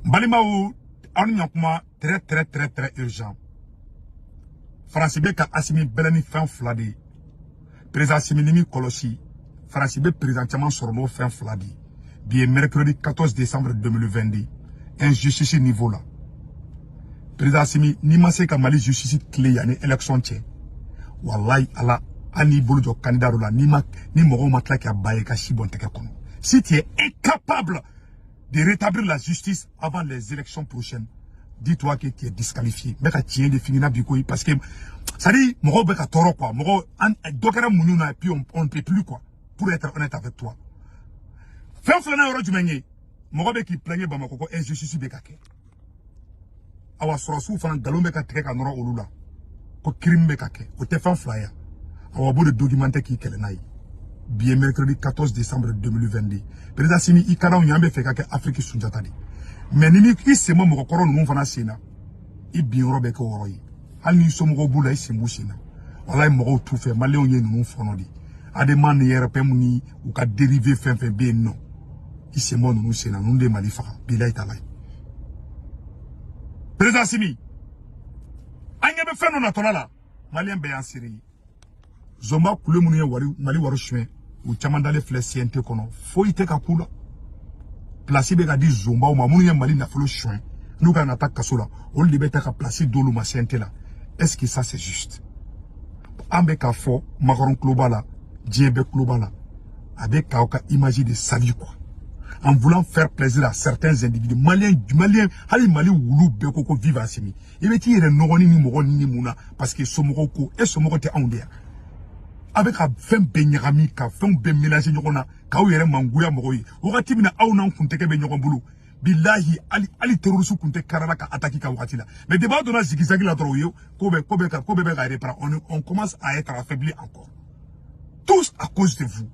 balimaw aw nin ye kuma très très très très urgent faransi bɛ ka asimi bɛlɛn ni fɛn fila de ye perezan simi n'i m'i kɔlɔsi faransi bɛ perezan caman sɔrɔ n'o fɛn fila de ye bi ye mercredi 14 décembre 2022 injustice niveau la perezan simi n'i ma se ka mali justice tilen yanni élection cɛ walayi ala hali n'i bolo jɔ kandida dɔ la n'i ma ni mɔgɔw ma tila k'a ba ye ka si bɔn tɛgɛ kɔnɔ si tu es incapable de rétablir la justice avant les élections prochaines dis-toi que tu es disqualifié n bɛ ka tiɲɛ de f'i ɲɛna bi koyi parce que c'est à dire mɔgɔw bɛ ka tɔɔrɔ quoi mɔgɔ an dɔ kɛra muɲu na et puis on, on ne peut plus quoi pour être honnête avec toi fɛn filanan yɔrɔ jumɛn ye mɔgɔ bɛ k'i plaigner bamakɔ ko injustice bɛ ka kɛ awa sɔrɔsiw fana nkalon bɛ ka tigɛ ka nɔrɔ olu la ko kirim bɛ ka kɛ o tɛ fan fila ye awa b'o de documenté k'i kɛlɛ n'a ye bi ye mercredi 14 décembre 2022 président simi i ka d'anw ye an b'a fɛ ka kɛ afiriki sunjata de ye mais n'i m'i sen bɔ mɔgɔkɔrɔ ninnu fana sen na i bin yɔrɔ bɛ kɛ o yɔrɔ ye hali n'i somɔgɔw b'u la i sen b'u sen na walayi mɔgɔw t'u fɛ maliyɛnw ye ninnu fɔɔnɔ de ye adema ni rpm ni u ka dérivé fɛn fɛn bɛ yen nɔ i sen bɔ ninnu sen na ninnu de mali faga bilayi talayi perezan simi an ɲɛ bɛ fɛn dɔ natɔla la maliyɛn bɛɛ y'an seere ye zɔnba kule minnu ye wari mali wari suɲɛ u caman dalen filɛ cnt kɔnɔ foyi tɛ ka k'u la pilasi bɛ ka di zɔnbaw ma minnu ye mali nafolo suɲɛ n'u ka kan ka taa kaso la olu de bɛ ta ka pilasi d'olu ma cnt la est ce que ça c'est juste an bɛ k'a fɔ makɔrɔn tulo b'a la diɲɛ bɛɛ tulo b'a la a bɛ k'aw ka image de salir quoi en voulant faire plaisir à certains individus maliens maliens hali mali wulu bɛɛ ko ko vive Assimi i bɛ t'i yɛrɛ nɔgɔ ni nin mɔgɔ ninnu mun na parce que somɔgɔw ko e somɔgɔ tɛ anw de ye wa a bɛ ka fɛn bɛɛ ɲagami ka fɛnw bɛɛ mélanger ɲɔgɔn na k'aw yɛrɛ mangoya mɔgɔw ye wagati min na aw n'an kun tɛgɛ bɛ ɲɔgɔn bolo bilahi hali hali terroriste kun tɛ karala ka attaque k'a wagati la mais depuis aw donna zigizagi la dɔrɔn o ye ko bɛɛ ko bɛɛ ka ko bɛɛ bɛ ka reprendre on on commence à être affaibli encore tout ça à cause de vous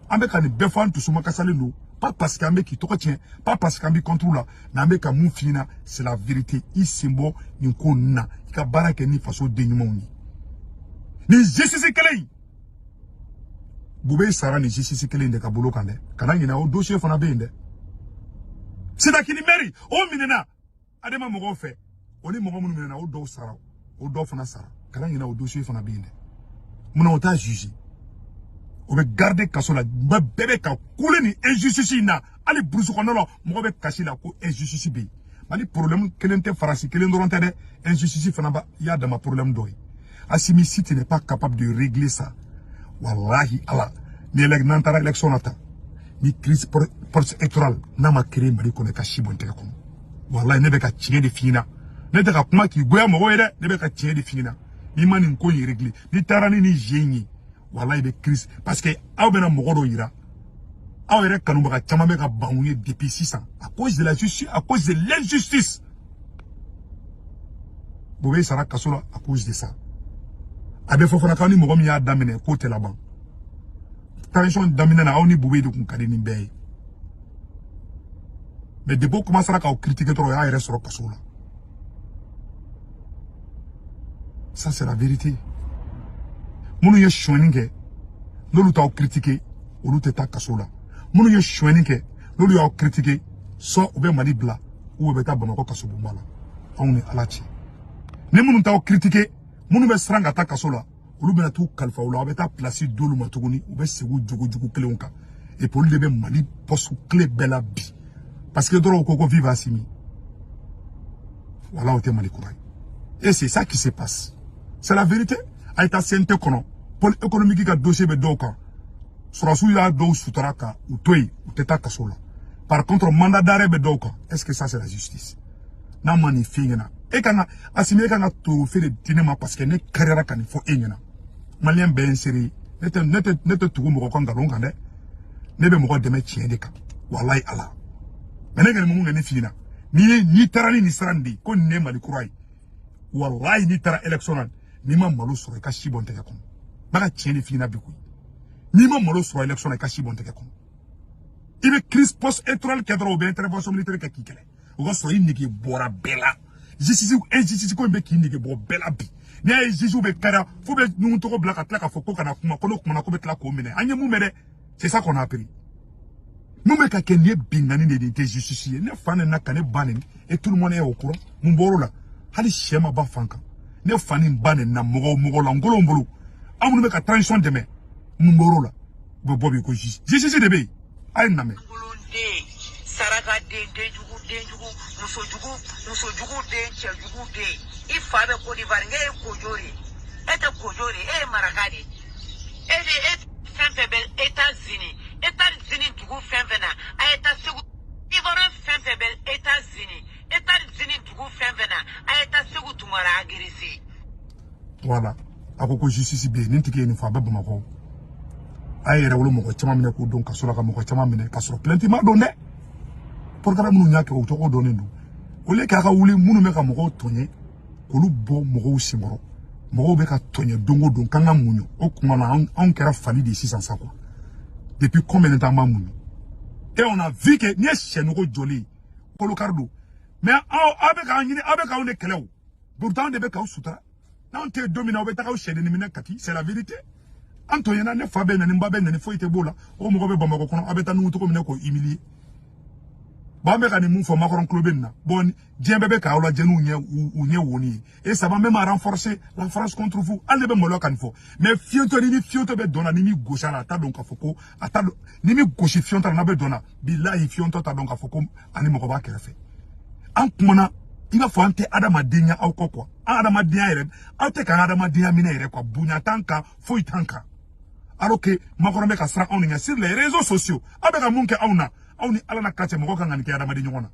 an bɛ ka nin bɛɛ fɔ an dusuma kasalen don pas parce que an bɛ k'i tɔgɔ tiɲɛ pas parce que an b'i contre la mais an bɛ ka mun f'i ɲɛna c'est la vérité i sen bɔ nin ko ninnu na i ka baara kɛ ni faso den ɲumanw ye nin justice kelen in bubɛyi sara nin justice kelen in de ka bolo kan dɛ kana ɲinɛ o dossier fana bɛ yen dɛ sitakili mɛri o minɛna adama mɔgɔw fɛ o ni mɔgɔ minnu minɛna o dɔw sara o dɔw fana sara kana ɲinɛ o dossier fana bɛ yen dɛ munna o t'a jugé o bɛ gardé kaso la bɛɛ bɛ ka kule ni injustice in na hali burusi kɔnɔna la mɔgɔ bɛ kasi la ko injustice bɛ yen mali problème kelen tɛ faransi kelen dɔrɔn tɛ dɛ injustice fana b'a y'a dama problème dɔ ye asimi si tu n'es pas capable de régler ça walahi ala ni elɛg n'an taara élection na tan ni crise post électorale n'a ma créer mali kɔnɔ i ka si bɔ n tɛgɛ kɔnɔ walayi ne bɛ ka tiɲɛ de f'i ɲɛna ne tɛ ka kuma k'i goya mɔgɔ ye dɛ ne bɛ ka tiɲɛ de f'i ɲɛna n'i ma nin ko in réglé n'i taara ni nin je in ye walayi i bɛ crise parce que aw bɛna mɔgɔ dɔ yira aw yɛrɛ kanubaga caman bɛ ka ban u ye depuis sisan à cause de la justice à cause de l'injustice boubèye sara kaso la à cause de ça a bɛ fɔ fana k'aw ni mɔgɔ min y'a daminɛ k'o tɛ laban transition daminɛ na aw ni boubèye de tun ka di ni bɛɛ ye mais depuis o kɔmansera k'aw kiritike dɔrɔn o y'a yɛrɛ sɔrɔ kaso la ça c'est la vérité minnu ye sonyani kɛ n'olu t'aw kiritike olu tɛ taa kaso la minnu ye sonyani kɛ n'olu y'aw kiritike soit u bɛ mali bila u bɛ taa bamakɔ kasobonba la anw ni ala cɛ ni minnu t'aw kiritike minnu bɛ siran ka taa kaso la olu bɛna t'u kalifa u la aw bɛ taa pilasi d'olu ma tuguni u bɛ segin u jogojugu kelenw kan et puis olu de bɛ mali postes clés bɛɛ la bi parce que dɔrɔn u ko ko vive asimi voilà o tɛ mali kura ye et c'est ça qui se passe c'est la vérité a ye taa cnt kɔnɔ pôle économique ka dossier bɛ dɔw kan sɔrɔdasiw ye dɔw sutura ka u to yen u tɛ taa kaso la par contre mandat d'arrêt bɛ dɔw kan est ce que ça c'est la justice n'a ma nin f'i ɲɛna e kan ka asimi e kan ka trophée de di ne ma parce que ne karira ka nin fɔ e ɲɛna maliyɛn bɛɛ ye n seere ye ne tɛ ne tɛ ne tɛ tugu mɔgɔ ka nkalon kan dɛ ne bɛ mɔgɔ dɛmɛ tiɲɛ de kan walayi ala mais ne kɛlen mun kɛ ne f'i ɲɛna n'i ye n'i taara ni nin sira nin de ye ko nin ye mali kura ye walayi n'i taara élection na n'i ma malo sɔrɔ i ka si bɔ n tɛgɛ kɔnɔ bɛ ka tiɲɛ de f'i ɲɛna bi koyi n'i ma malo sɔrɔ élection na i ka si bɔ n tɛgɛ kɔnɔ i bɛ crise post électorale kɛ dɔrɔn u bɛ intervention militaire kɛ k'i kɛlɛ o ka sɔrɔ i nege bɔra bɛɛ la justice injustice ko in bɛ k'i nege bɔ bɛɛ la bi n'i y'a ye jugew bɛ kɛra fo bɛ ɲɔgɔn tɔgɔ bila ka tila k'a fɔ ko kana kuma ko n'o kumana ko bɛ tila k'o minɛ an ye mun mɛn dɛ c'est ça qu'on a appris mun bɛ ka kɛ nin ye binkanni de nin tɛ justice ye ne fa nenina ka ne ba neni et tout le monde est au courant mun bɔr'o la hali syɛ ma ba fan kan ne fa ni ba nenina mɔgɔ mɔgɔ lankolonw bolo aw minnu bɛ ka transition dɛmɛ mun bɔr'o la u bɛ bɔ bi ko justice justice de bɛ yen a ye nin lamɛn saraka den denjugu denjugu musojugu musojugu den cɛjugu den i fa bɛ kodiwari ne ye kojo de e tɛ kojo de e ye maraka de e de e fɛn fɛn bɛ états-unis états-unis dugu fɛn fɛn na a ye taa seku ivoirien fɛn fɛn bɛ états-unis états-unis dugu fɛn fɛn na a ye taa seku tunkara agresser voilà a ko ko justice bɛ yen nin tigi ye nin fɔ a bɛ bamakɔ a ye yɛrɛwolo mɔgɔ caman minɛ k'u don kaso la ka mɔgɔ caman minɛ ka sɔrɔ plainte ma don dɛ procureur minnu y'a kɛ o tɔgɔ dɔnnen don o le k'a ka wuli minnu bɛ ka mɔgɔw tɔɲɛ k'olu bɔ mɔgɔw senkɔrɔ mɔgɔw bɛ ka tɔɲɛ don o don k'an ka muɲu o kuma na anw kɛra fali de ye sisan sa quoi depuis combien de temps an b'a muɲu et on a vu que n'i ye syɛ nugu jɔlen ye kolokari don mais aw aw bɛ k'an ɲini aw bɛ k'anw de kɛlɛ o pourtant anw de bɛ k'aw sutura n'anw tɛ yen don min na aw bɛ taga aw cɛdennin minɛ kati c'est la vérité an tɔɲɛna ne fa bɛ nɛni n ba bɛ nɛni foyi tɛ b'o la o mɔgɔ bɛ bamakɔ kɔnɔ aw bɛ taa nugu cogo min na k'o humilier bɔn an bɛ ka nin mun fɔ macron tulo bɛ nin na bɔn diɲɛ bɛɛ bɛ k'aw lajɛ n'u ɲɛ u ɲɛ woni ye et ça va même renforcer la france contre vous hali ne bɛ maloya ka nin fɔ mais fiyentɔ ni ni fiyentɔ bɛ dɔn na n'i m'i gosi a la a t'a dɔn k'a fɔ ko a t'a dɔn n'i m'i gosi fiyɔntɔ la n'a bɛ dɔn na bilahi fiyɔntɔ t'a dɔn k'a fɔ ko ani mɔgɔ b'a kɛrɛfɛ an kumana i b'a fɔ an tɛ adamadenya aw kɔ quoi an adamadenya yɛrɛ aw tɛ k'an adamadenya minɛ yɛrɛ quoi bonya t'an kan foyi t'an kan alors que macron bɛ ka siran anw de ɲɛ sur les réseaux sociaux aw bɛ ka mun kɛ anw na aw ni ala na ka cɛ mɔgɔ kan ka nin kɛ adamaden ɲɔgɔn na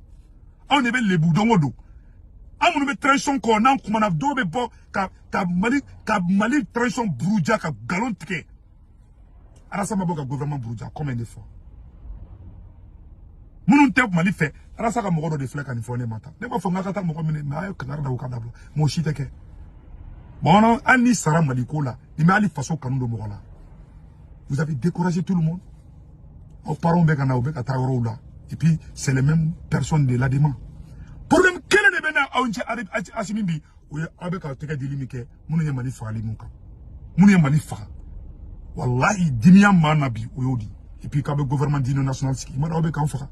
anw de bɛ lebu don o don an minnu bɛ transition kɔ n'an kumana dɔw bɛ bɔ ka ka mali ka mali transition buruja ka nkalon tigɛ arasa ma bɔ ka gouvernement buruja combien de fois minnu tɛ mali fɛ arasa ka mɔgɔ dɔ de filɛ ka nin fɔ ne ma tan ne b'a fɔ n ka ka taa mɔgɔ minɛ mais a ye kangari da o ka dabila mɔgɔ si tɛ kɛ bamanan hali n'i sara mali ko la nin bɛ hali faso kanu don mɔgɔ la vous avez découragé tout le monde aw parents bɛ ka na u bɛ ka taa yɔrɔw la et puis c'est les mêmes personnes de l'adema problème kelen de bɛ n n'aw cɛ asimi bi o ye aw bɛ ka tɛgɛ dili min kɛ minnu ye mali fagali mun kan minnu ye mali faga walahi dimiya maa na bi o y'o di et puis k'aw bɛ gouvernement d'union nationale sigi i ma dɔn aw bɛ k'an faga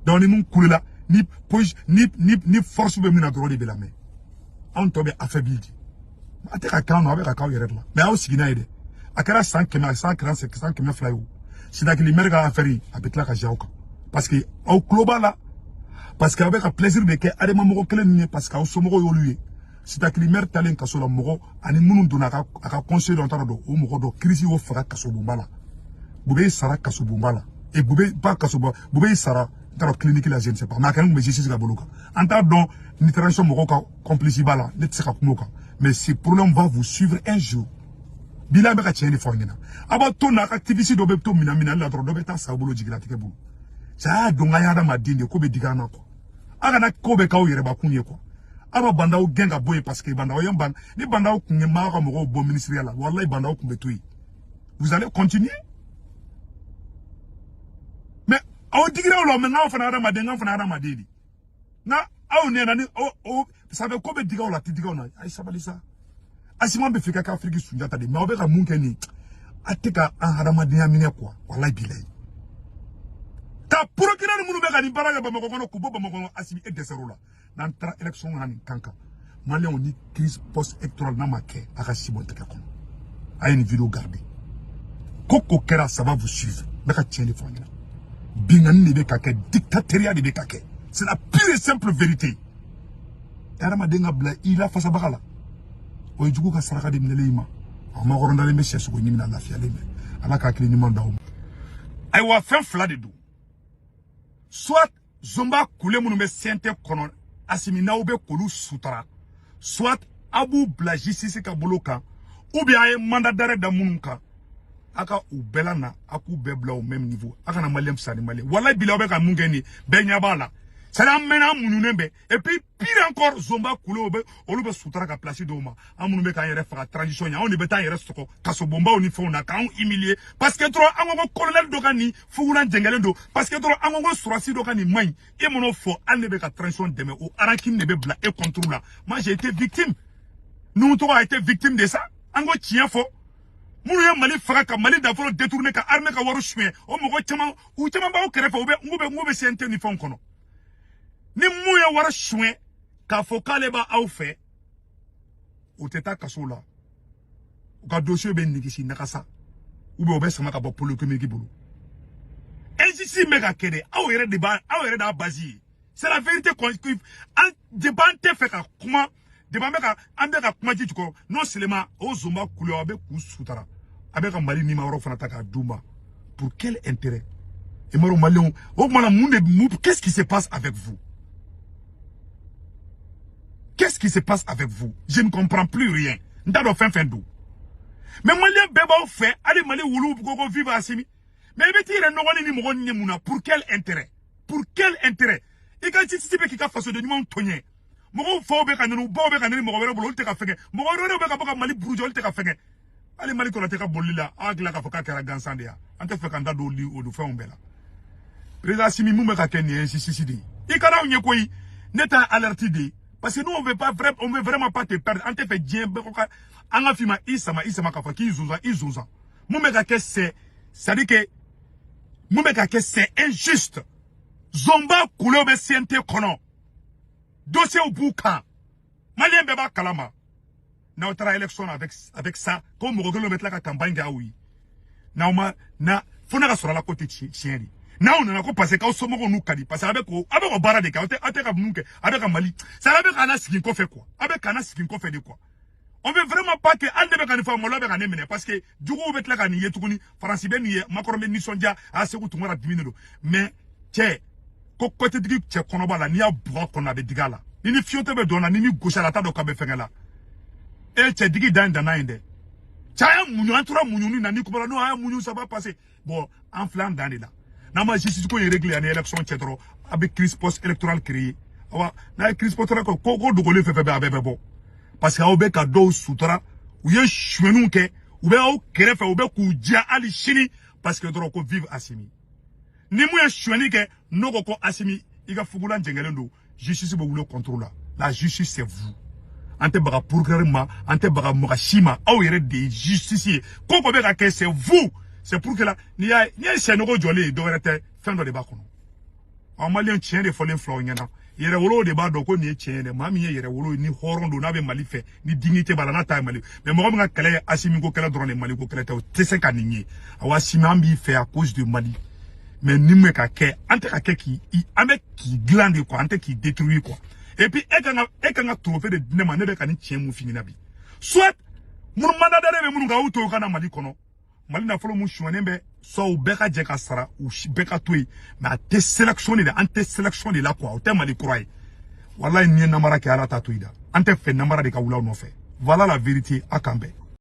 donc ni min kulela ni posi ni ni ni force bɛ min na dɔrɔn de bɛ lamɛn anw tɔ bɛ affaibli de a tɛ ka k'an na aw bɛ ka k'aw yɛrɛ de la mais aw sigi n'a ye dɛ a kɛra san kɛmɛ a san kɛra san kɛmɛ fila ye o sitakili mɛri ka affaire a bɛ tila ka ja aw kan parce que aw tulo b'a la parce que aw bɛ ka plaisir de kɛ adema mɔgɔ kelen ninnu ye parce que aw somɔgɔw y'olu ye sitakili mɛri taalen kaso la mɔgɔ ani minnu donna a ka conseil dɔ taara don o mɔgɔ dɔ kirisi y'o faga kasobonba la bube sara kasobonba la e bube pas kasoba bube sara n taara kiliniki la je ne sais pas mais a kɛra tun bɛ jisisi ka bolo kan an t'a dɔn ni transition mɔgɔw ka complice b'a la ne tɛ se ka kuma o kan mais ce problème va vous suivre un jour bila bɛ ka tiɲɛ de fɔ aw ɲɛna a b'a to ni activiste dɔ bɛ to minɛn minɛli la dɔrɔn dɔ bɛ taa sa bolo jigilatigɛ bolo saya don nka an ye adamaden de ko bɛ digi an na quoi a kana ko bɛɛ k'aw yɛrɛbakun ye quoi aw bɛ bandaw gɛn ka bɔ yen parce que bandaw y'i ban ni bandaw tun ye m'aw ka mɔgɔw bɔ minisiriya la walayi bandaw tun bɛ to yen vous allez continuer mais o digira aw la mais nka an fana hadamaden nka an fana hadamaden de nka aw ɲɛna ni o o parce que a bɛ ko bɛ digi aw la a tɛ digi anw na a ye sabali sa asimi a bɛ fɛ ka kɛ afiriki sunjata de mais aw bɛ ka mun kɛ nin a tɛ ka an hadamadenya minɛ quoi walayi bilayi ka procureur minnu bɛ ka nin baara kɛ bamakɔ kɔnɔ k'u bɔ bamakɔ kɔnɔ asimi e dɛsɛr'o la n'an taara élection na nin kan kan maliyɛnw ni crise post électorale n'a ma kɛ a ka si bɔ n tɛgɛ kɔnɔ a ye nin video garder ko ko kɛra ça va vous suivre ne bɛ ka tiɲɛ de fɔ aw ɲɛna binkanni de bɛ ka kɛ dictatoriya de bɛ ka kɛ c'est la pure et simple vérité adamaden ka bila i lafasabaga la o ye jugu ka saraka de minɛlen i ma a makɔrɔndalen bɛ syɛ sogo ɲimi na lafiyalen bɛ ala ka hakili ɲuman d'aw ma ayiwa fɛn fila de don soit zonba kule minnu bɛ CNT kɔnɔ asimi n'aw bɛ k'olu sutara soit aw b'u bila jisisi ka bolo kan ou bien a ye mandat d'arrêt da minnu kan a ka u bɛɛ lana a k'u bɛɛ bila au même niveau a kana maliyɛn fisa ni maliyɛn walayi bila aw bɛ ka mun kɛ nin ye bɛɛ ɲɛ b'a la sani an mɛnna an muɲunen bɛ et puis pire encore zonba kulew bɛ olu bɛ sutara ka place dɔw ma an minnu bɛ k'an yɛrɛ faga transition ɲɛ anw de bɛ taa an yɛrɛ sɔgɔ kasobonbaw ni fɛnw na k'anw humilier parce que dɔrɔn an ko ko colonel dɔ ka nin fugulan jɛngɛlen don parce que dɔrɔn an ko ko sɔrɔdasi dɔ ka nin man ɲi e m'o fɔ hali n'e bɛ ka transition dɛmɛ o rancune de bɛ bila e contre la moi j'ai été victime nuhun togo a été victime de ça an ko tiɲɛ fɔ minnu ye mali faga ka mali nafolo détourner ka armée ka wari suɲɛ o mɔgɔ caman u caman b'aw kɛrɛfɛ u bɛ n ko bɛ n ko bɛ CNT ni fɛnw kɔnɔ ni min ye wari suɲɛ k'a fɔ k'ale b'aw fɛ o tɛ taa kaso la o ka dossier bɛ nigisi nagasa u bɛ u bɛ sama ka bɔ pôle économique bolo injustice bɛ ka kɛ dɛ aw yɛrɛ de b'a aw yɛrɛ d'a base ye c'est la vérité quoi an de ban tɛ fɛ ka kuma depi an bɛ ka an bɛ ka kuma ji jukɔrɔ non seulement o zonba kule a bɛ k'u sutara a bɛ ka mali nima yɔrɔ fana ta k'a d'u ma pour quel intérêt i m'a dɔn maliyɛnw o tuma na mun de mun qu'est-ce qui se passe avec vous qu'est-ce qui se passe avec vous je ne comprends plus rien n t'a dɔn fɛn fɛn don mais maliyɛn bɛɛ b'aw fɛ hali mali wuluw ko ko vive asimi mais i bɛ t'i yɛrɛ nɔgɔ ni nin mɔgɔ nin ye mun na pour quel intérêt pour quel intérêt i ka ci ci bɛ k'i ka fasoden ɲumanw tɔɲɛ mɔgɔw faw bɛ ka nɛni baw bɛ ka nɛni mɔgɔ wɛrɛ bolo olu tɛ ka fɛngɛ mɔgɔ wɛrɛ bɛ ka bɔ ka mali buruja olu tɛ ka fɛngɛ hali mali kɔnɔ tɛ ka bolili la a hakilila k'a fɔ k'a kɛra gansan de ya an tɛ fɛ k'an da don olu olu fɛnw bɛɛ la président asimi mun bɛ ka kɛ nin ye sisisi de ye i kana anw ye koyi ne ta alerte de ye parce que nous on veut pas vrai on veut vraiment pas te perdre an tɛ fɛ diɲɛ bɛɛ ko ka an ka fima i sama i sama k'a fɔ k'i zonzan i zonzan mun bɛ ka kɛ c'est c'est à dire que mun bɛ ka kɛ c'est injuste zonba kulew bɛ CNT kɔnɔ dossiers b'u kan maliyɛn bɛɛ b'a kalama n'aw taara élection na avec avec ça ko mɔgɔ kelen bɛ tila ka campagne kɛ aw ye n'aw ma na fo ne ka sɔrɔ a la ko tɛ tiɲɛ de n'aw nana ko parce que aw somɔgɔw n'u ka di parce que a bɛ ko a bɛ ka baara de kɛ aw tɛ aw tɛ ka mun kɛ a bɛ ka mali c'est a bɛ k'an nasegin kɔfɛ quoi a bɛ k'an nasegin kɔfɛ de quoi on veut vraiment pas que hali ne bɛ ka nin fɔ maloya bɛ ka ne minɛ parce que juguw bɛ tila ka nin ye tuguni faransi bɛ nin ye macron bɛ nisɔndiya a seku tunkara dimi de don mais cɛ ko ko tɛ digi cɛ kɔnɔba la n'i y'a bugɔ kɔnɔ a bɛ digi a la ni ni fiyentɔ bɛ dɔn na ni ni gosi a la t'a dɔn k'a bɛ fɛngɛ la e cɛ digi dan ye danna ye dɛ cɛ a ye muɲu an tora muɲuni na ni kumana n'o a ye muɲu ça va passer bon an filɛ an dan de la n'an ma justice ko in réglé ani élection cɛ dɔrɔn a bɛ crise post électorale créer awa n'a ye crise post électorale ko ko dogolen fɛn fɛn bɛ a bɛɛ bɛ bɔ parce que aw bɛ ka dɔw sutura u ye sonyɛniw kɛ u bɛ aw kɛrɛfɛ u bɛ k'u diya hali sini parce que dɔrɔn ko vive Asimi ni mun ye sonyɛni kɛ n'o ko ko Asimi i ka fugulan jɛngɛlen don justice bɛ wuli contre la la justice c'est vous an tɛ baga procureur ma an tɛ baga mɔgɔ si ma aw yɛrɛ de ye justice ye ko ko bɛ ka kɛ c'est vous c'est pour que la n'i y'a ye n'i ye sɛnogo jɔlen ye dɔwɛrɛ tɛ fɛn dɔ de b'a kɔnɔ ɔ maliyɛn tiɲɛ de fɔlen filɛ aw ɲɛna yɛrɛwolow de b'a dɔn ko nin ye tiɲɛ ye dɛ maa min ye yɛrɛwolo ye ni hɔrɔn don n'a bɛ mali fɛ ni dignité b'a la n'a ta ye mali mais mɔgɔ min ka kɛlɛ ye asimi ko kɛlɛ dɔrɔn de mali ko kɛlɛ tɛ o tɛ se ka nin ye awa asimi an b'i fɛ à cause de mali mais nin bɛ ka kɛ an tɛ ka kɛ k'i an bɛ k'i dilan de quoi an tɛ k'i détruire quoi et puis e kan ka e kan ka trophée de di ne ma ne bɛ ka nin tiɲɛ mun f'i ɲɛna bi soit minnu mandat d'arrêt bɛ minnu kan u to u ka na mali kɔnɔ mali nafolo mun sonyɛnen bɛ soit u bɛɛ ka jɛ k'a sara u bɛɛ ka to yen mais an tɛ sélection de la an tɛ sélection de la quoi o tɛ mali kura ye walayi n'i ye namara kɛ ala t'a to i da an tɛ fɛ namara de ka wuli aw nɔfɛ voilà la vérité a k'an bɛn